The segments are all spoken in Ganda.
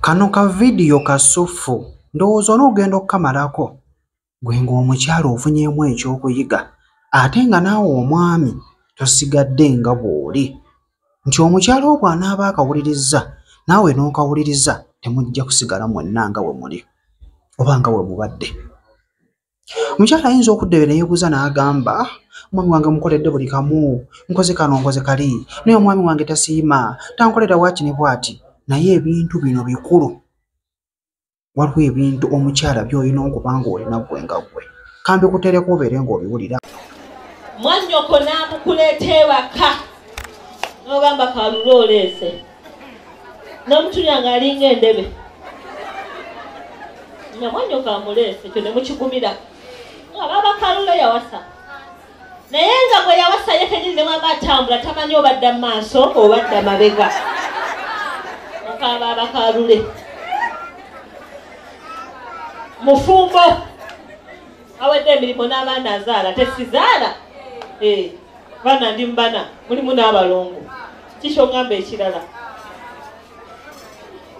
Kano ka vidiyo kasuffu ndowooza onoogenda okukamalako gwe ng'omukyala ofunyeemu ekyokuyiga ate nga naawe omwami tosigadde nga bw'oli nti omukyala obwo anaaba akawulirizza naawe n'okawuliriza temujja kusigala mwenna nga we muli oba nga we mubadde. omukyala ayinza okudda ebyo neyebuuza n'agamba omwami wange mukoledde buli kamu nkoze kano nkoze kali naye omwami wange tasiima tankolera waaki ne bwati naye ebintu bino bikulu waliwo ebintu omukyala byolina okuba nga olina gwe nga gwe kambi kutereka obeere ng'obiwulira mwannyoko n'amukuleeta ewaka n'ogamba kalulu oleese namutunya nga alinga endebe namwanyoka amuleese ekyo nemukigumira nga babakalula yawasa naye nga gwe yawasa ye kenyini nemwaba atambula tamanyi obadda mu maaso obadda mabega mukaba abakalule mufumbo awedde emirimu n'abaana azaala tesizaala eh, baana ndi mubana mulimu n'abalongo kikyongamba ekirala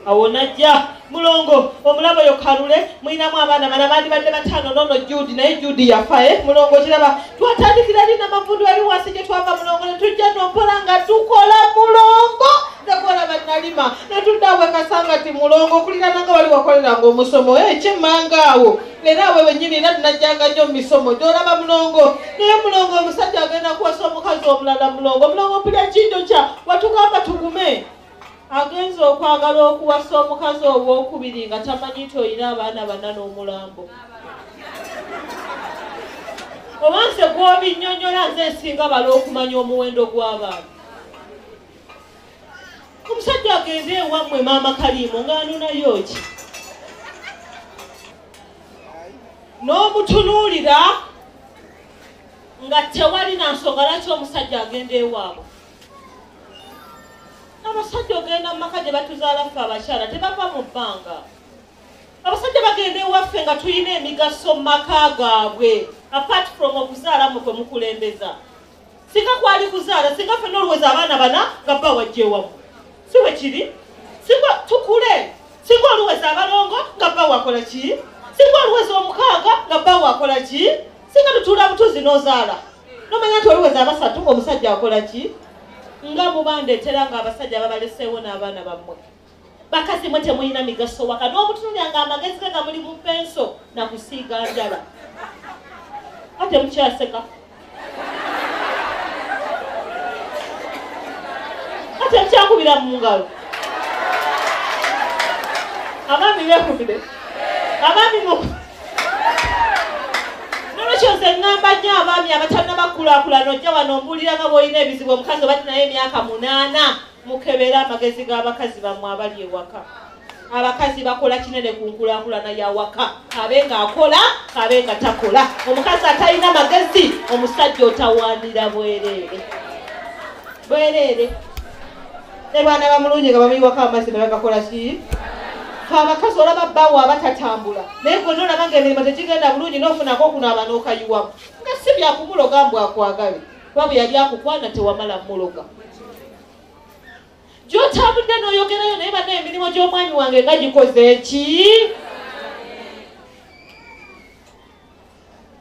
awo najja mulongo omulabo yo kalule mulinamu abaana bana bandibadde bataano nono judi naye judi yafae eh? mulongo kiraba twatandikira lina mavundu ali wansi gye twava mulongo netujja nompola nga tukola mulongo nekola banalima netudda wekasanga ti mulongo okulirananga wali wakoleranga omusomo ekyemanga eh, awo era we wenyini era tunajjanga nnyo mumisomo gyolaba mulongo naye mulongo omusajja agenda kuwasa omukazi omulala mulongo mulongo mpulya ekinjo kya watugamba tugume agenza okwagala okuwasa omukazi owokubiri nga tamanyi nti olina abaana bana n'omulambo oba nze gwobinyonyola nze nsinga bala okumanya omuwendo gw'abantu omusajja agende ewammwe maama kaliimo ng'anonayo ki n'omutunuulira nga tewali na nsonga lwaki omusajja agenda ewaabwe abasajja ogenda mu maka gye batuzaala ffe abakyala tebava mu bbanga abasajja bagenda ewaffe nga tulina emigaso mu maka gaabwe apart from okuzaala mwe kwe mukulembeza singa kwali kuzaala singa fena oluweza abaana bana nga bba wajja ewamu si bwe kiri singa tukule singa oluweza abalongo nga bba wakola ki singa oluweza omukaaga nga bba wakola ki singa tutuula butuzi n'ozaala nomanya nti oluweza abasatu omusajja akola ki nga mubandeetera nga abasajja babaleseewo n'abaana bammwe bakazi mwe temulina migaso waka n'omutunulya nga amagezi ge gamuli mu penso na kusiiga njala ate mukyaseka ate mukyakubira mu ngalo abaami bekubire abaami mu nolwekyo nze ŋŋamba nnyo abaami abatalina bakulaakulana ojja wano ombuulira nga bw'olina ebizibu omukazi obati naye emyaka munaana mukebere amagezi g'abakazi bammwe abali ewaka abakazi bakola kinene ku nkulakulana yawaka kabe nga akola kabe nga takola omukazi atalina magezi omusajja otawandira bwereere bwereere ne baana bamulungi nga bamuyiwako amazzi nebagakola ki abakazi olaba bawo abatatambula naye gonna olaba nga emirimu tegigenda bulungi nofunako okunaaba nokayiwamu nga si byakumuloga mbwakwagale kuba bwe yali akukwana tewamala muloga gyotambudde n'oyogerayo naye bana emirimu gy'omwami wange nga gikoze eki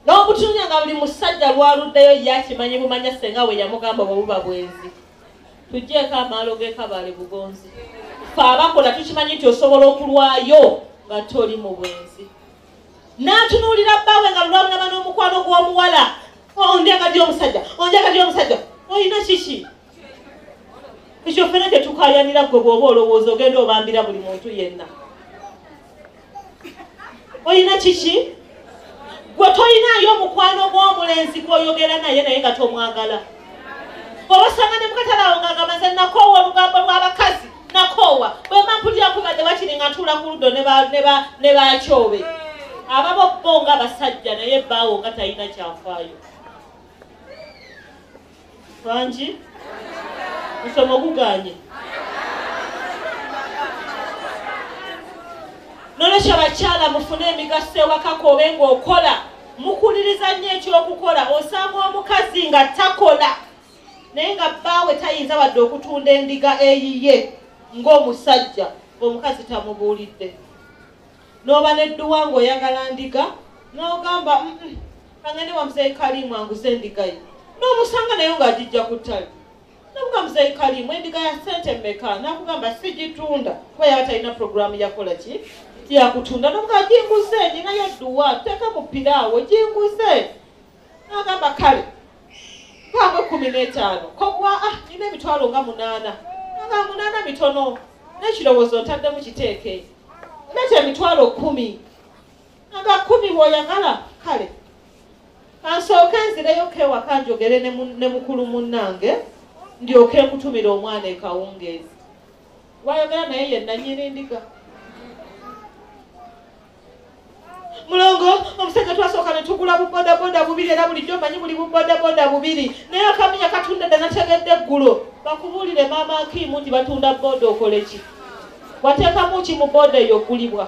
n'obutunya nga buli musajja lwaluddeyo yakimanyi bumanya senga we yamugamba bwe buba bwenzi tugjeeko amaalo g'ekabaale bugonzi fe abakola tukimanyi nti osobola okulwayo nga toli mu bwenzi n'atunuulira bbaawe nga lulabulaba n'omukwano gw'omuwala onjaga dy omusajja onjaga dy omusajja olina kiki ekyo ffena tetukayanira gwe bw'oba olowooza ogenda obambira buli muntu yenna olina kiki gwe tolinaayo omukwano gw'omulenzi gwoyogera naye naye nga tomwagala obasanga ne mukatalawo nga agamba nze nakoowa olugambo lw'abakazi nakoowa bwemba mpulira kubadde wakiri nga ntuula ku ludo ne bakyobe ababo bo nga basajja naye baawo nga talina kyafaayo bangi musomo guganye nolwekyo bakyala mufune emigaso ewakako obe ngaokola mukuliriza nnyo ekyokukola osanga omukazi nga takola naye nga bbaawe tayinza wadde okutunda endiga eyiye ng'omusajja omukazi tamubuulidde n'oba n'edduwa ng'oyagala ndiga n'ogamba kangende wa muzeeyi kaliimu anguze endiga ye n'omusanga nayo ng'agijja ku ttale nakuga muzeeyi kaliimu endiga ya ssente mmeka nakugamba sigitunda kuba yaba talina puroguraamu yakola ki yakutunda nokuga ginguze ninayo edduwa teeka mu piraawo ginguze n'agamba kale mpaamu ekkumi n'etaano kogwa ah nina emitwalo nga munaana nga munaana mitono n'ekirowoozo ntaddemu kiteeke nete emitwalo kkumi nga kkumi bw'oyagala kale kansooke nzireyo kewaka njogere ne mukulu munnange ndyoke nkutumira omwana ekawungeezi wayogera naye ye nanyini ndiga mulongo omusajja twasooka ne tugula bubodaboda bubiri era bulijjo manyi buli bubodaboda bubiri naye akaminya katunda dda nategedde eggulo bakubuulire maama akiimu nti batunda boda okole ki wateekamu ki mu boda eyo ogulibwa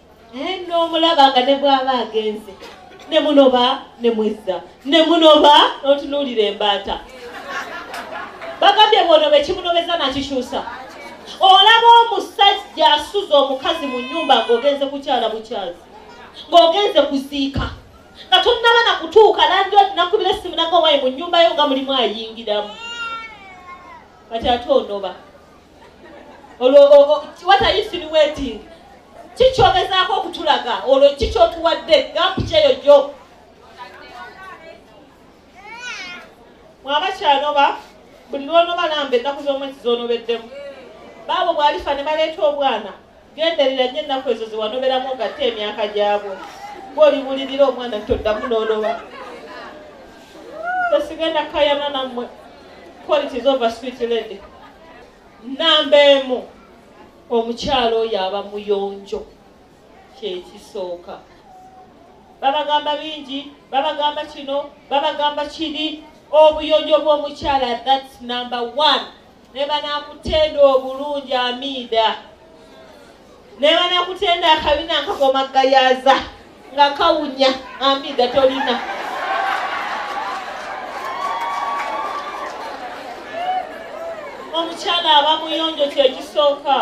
naye nomulaba nga ne bwaba agenze ne munoba ne mwezza ne munoba notunuulira embaata bagambye bwonoba ekimunobeza nakikyusa olaba omusajja asuza omukazi mu nyumba ngaogenze kukyala bukyazi ngaogenze kuziika nga tonnaba na kutuuka landi nakubira essimu nagawayi mu nyumba yo nga mulimu ayingiramu kati ate onoba olwo what are you insinuating kikyogezaako okutulaga olwo kikyotuwadde gampu kyeyo gyo mwaba kyanoba buli lwonoba lamba ennaku z'omwezi zoonobeddemu baabo bwalifa ne baleeta obwana Genderera nnyo ennaku ezo ze wanoberamu ogatte emyaka gyabwo. Bw'olibulirira omwana toddamu n'onoba. Tesigenda kayana nammwe. Quality is over sweet lady. Nnamba emu omukyala oyo aba muyonjo kyekisooka. Babagamba bingi, babagamba kino, babagamba kiri. Obuyonjo bw'omukyala that's number one. ne banakutenda obulungi amiida ne banakutenda akabina nkakoma gayaza nga kawunya amiida tolina omukyala aba muyonjo kyekisooka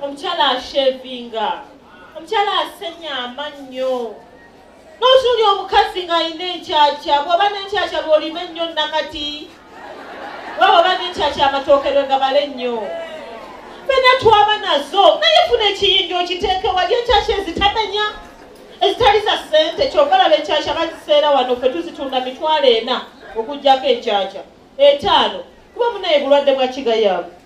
omukyala ashevinga omukyala asenya amannyo n'otunuulya omukazi ng'alina enkyakya bw'oba n'enkyakya lw'olima ennyo nakati waba oba n'enkyakya amatooke lwe gabala ennyo fena twaba nazo naye funa ekiyinja okiteeke wali enkyakya ezitamenya ezitali za ssente kyova laba enkyakya baziseera wano ffe tuzitunda mitwalo ena okugyako enkyakya etaano kuba munaye bulwadde bwa kigayaavu